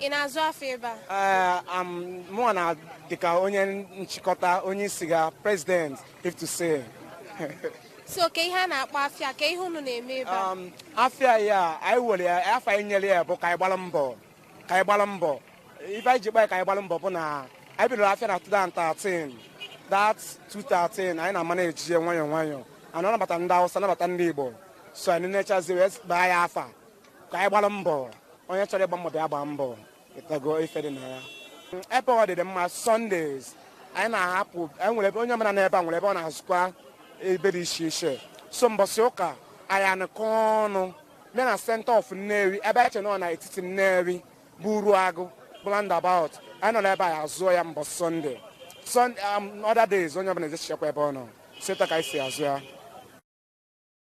ị na-azụ afịa ebe a mụwa na dịka onye nchịkọta onye isi ga president if to say so kee ihe a na-akpọ afịa kee ihe unu na-eme ebe a um, afịa ya anyị were ya afa anyị nyere ya bụ ka anyị gbara mbọ ka anyị gbara mbọ ife anyị ji baa ya ka anyị gbara mbọ bụ na anyị bidoro afịa na 2013 that 2013 anyị na-ama na-eji ya nwayọọ nwayọọ anyị anabata ndị awụsa anabata ndị igbo so anyị nechazi wee baa ya afa ka anyị gbara mbọ onye chọrọ ịgba mbọ bịa gbaa mbọ ị ghọtago ife dị na ya ebe ọ dịdị mma Sundays anyị na-ahapụ enwere ebe onye ọbụla n'ebe a nwere ebe ọ na-azụkwa ebe dị iche iche so mbọsị ụka anyị anọkọ ọnụ bịa na center of Nnewi ebe anyị chere na etiti Nnewi bụ Uruagu bụ roundabout anyị nọ n'ebe anyị azụọ ya mbọsị Sunday Sunday um, other days onye ọbụla ejechichaakwa ebe ọ nọ so etu a ka anyị si azụ ya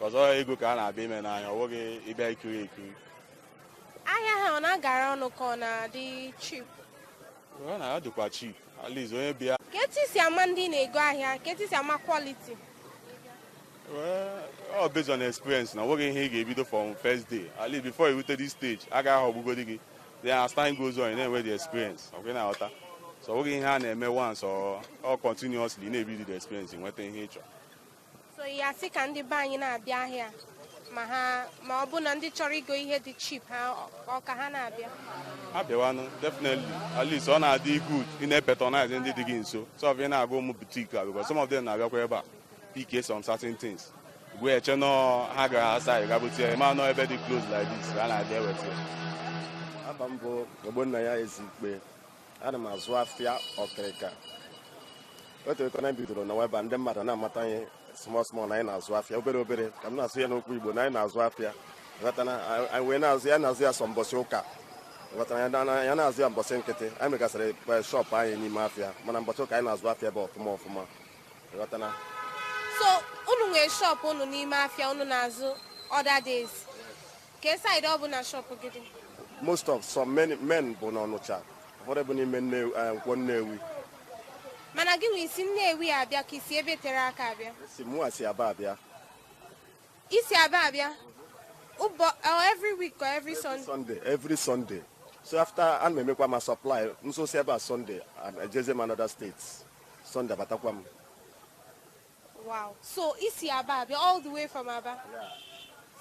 ọọ ego ka a na-abịa ime n'ahịa ọ bụghị ịbịa ikiri ekiri ahịa a ọ na-agara ọnụ ka ọ na-adị cheap ọ na-adịkwa cheap at least onye bịa kee etu i si ama ndị na-ego ahịa kee etu i si ama quality ọ based on experience na nweghị ihe ị ga-ebido from first day at least before you rute this stage a gaghị aghọgbugodi gị then as time goes on you na-enwe the experience ọkwa ị na-aghọta so nweghị ihe a na-eme once or continuously na-ebido the experience nweta ihe ị chọrọ so ya sị ka ndị be anyị na-abịa ahịa ma ha ma ọ bụ na ndị chọrọ igo ihe dị cheap ha ọ ka ha na-abịa abịawanụ definitely at least ọ na-adị good ị na-apatronize ndị dị gị nso instead of ị na-aga ụmụ boutique a because some of them na-abịakwa ebe a pick some certain things gị wee chee na ha gara asa ịga bute ya mana ọ ebe dị close like this ha na-abịa eweta ya afa m bụ Ogbonnaya Ezikpe ana m azụ afịa ọkịrịka otu eko na bidoro na weba ndị mmadụ na-amata ihe small small na anyị na-azụ afịa obere obere ka m na-asụ ya n'okwu igbo na anyị na-azụ afịa ghọtana anyị wee na-azụ ya na-azụ ya sọ mbọsị ụka ghọtara ya na-azụ ya mbọsị nkịtị anyị nwegasịrị shop anyị n'ime afịa mana mbọsị ụka anyị na-azụ afịa ebe a ọfụma ọfụma ghọtana so unu nwere shop unu n'ime afịa unu na-azụ other days Kee side ọ bụ na shop gị dị? Most of some men, men bụ n'Ọnịcha, ụfọdụ bụ n'ime eh, Nkwo Nnewi. Mana gị nwa i si Nnewi abịa ka i si ebe tere aka abịa? Si mụ si Aba abịa. I si Aba abịa? Ụbọ, oh, every week or every, every Sunday? Sunday, every Sunday. So after ana m emekwa m supply, m zụsịa ebe a Sunday, and ejezie m another state. Sunday abatakwa m. Wow. So i si Aba abịa all the way from Aba. Yeah.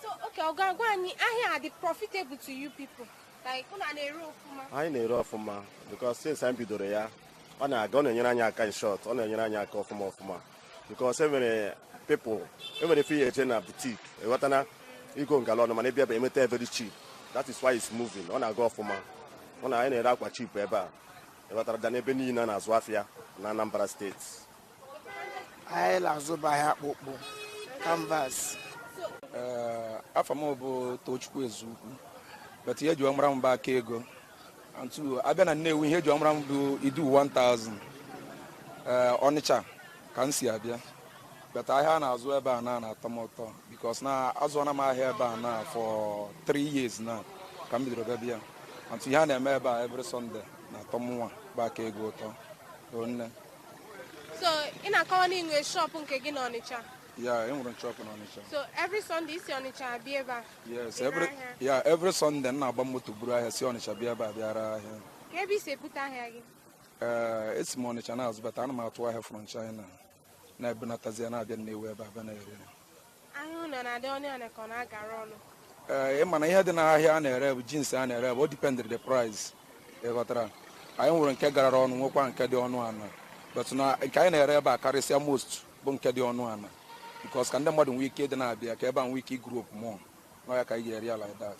So okay, ọ ga-agwa anyị ahịa a dị profitable to you people. Like unu na-ere ọfụma. Anyị na-ere ọfụma because since anyị bidoro ya ọ na-aga ọ na-enyere anyị aka in short ọ na-enyere anyị aka ọfụma ọfụma because e nwere people e nwere ife ị ya-eje na boutique ewetana igo ngala ọnụ mana ebe ebe e nweta very cheap that is why it's moving ọ na-aga ọfụma ọ na anyị na-ere akwa cheap ebe a better than ebe niile na-azụ afịa na Anambra State anyị na-azụba ahịa akpụkpụ canvas eh, afa m bụ Tochukwu Ezeukwu but ihe e ji wee mara m bụ aka ego and a bịa na Nnewi ihe e ji wee mara m bụ Idu 1000 eh, Ọnịcha ka m si abịa but ahịa a na-azụ ebe a na na-atọ m ụtọ because na azụọna m ahịa ebe a na for 3 years now ka m bidoro bịa and ihe a na-eme ebe a every Sunday na-atọ mụnwa bụ aka ego ụtọ nne so ị na-akọwa na i nwe shop nke gị na Ọnịcha yeah enwere m shop na Ọnịcha so every Sunday i si Ọnịcha abịa ebe a yes every yeah every Sunday m na-agba moto buru ahịa si Ọnịcha bịa ebe a bịa ree ahịa kee ebe i si ebute ahịa gị ee eh, esi m Ọnịcha na-azụbata ana m atụ ahịa from China na-ebunatazi ya na-abịa Nnewi ebe a bịa na-ere ee ị ma na ihe dị n'ahịa a na-ere bụ jeans a na-ere bụ ọ dependịrị the price ị ghọtara anyị nwere nke garara ọnụ nwekwa nke dị ọnụ ala but na nke anyị na-ere ebe a karịsịa most bụ nke dị ọnụ ala because ka ndị mmadụ nwee ike ịdị na-abịa ka ebe a nwee ike igrow up more na ọ ya ka anyị ji ere ya like that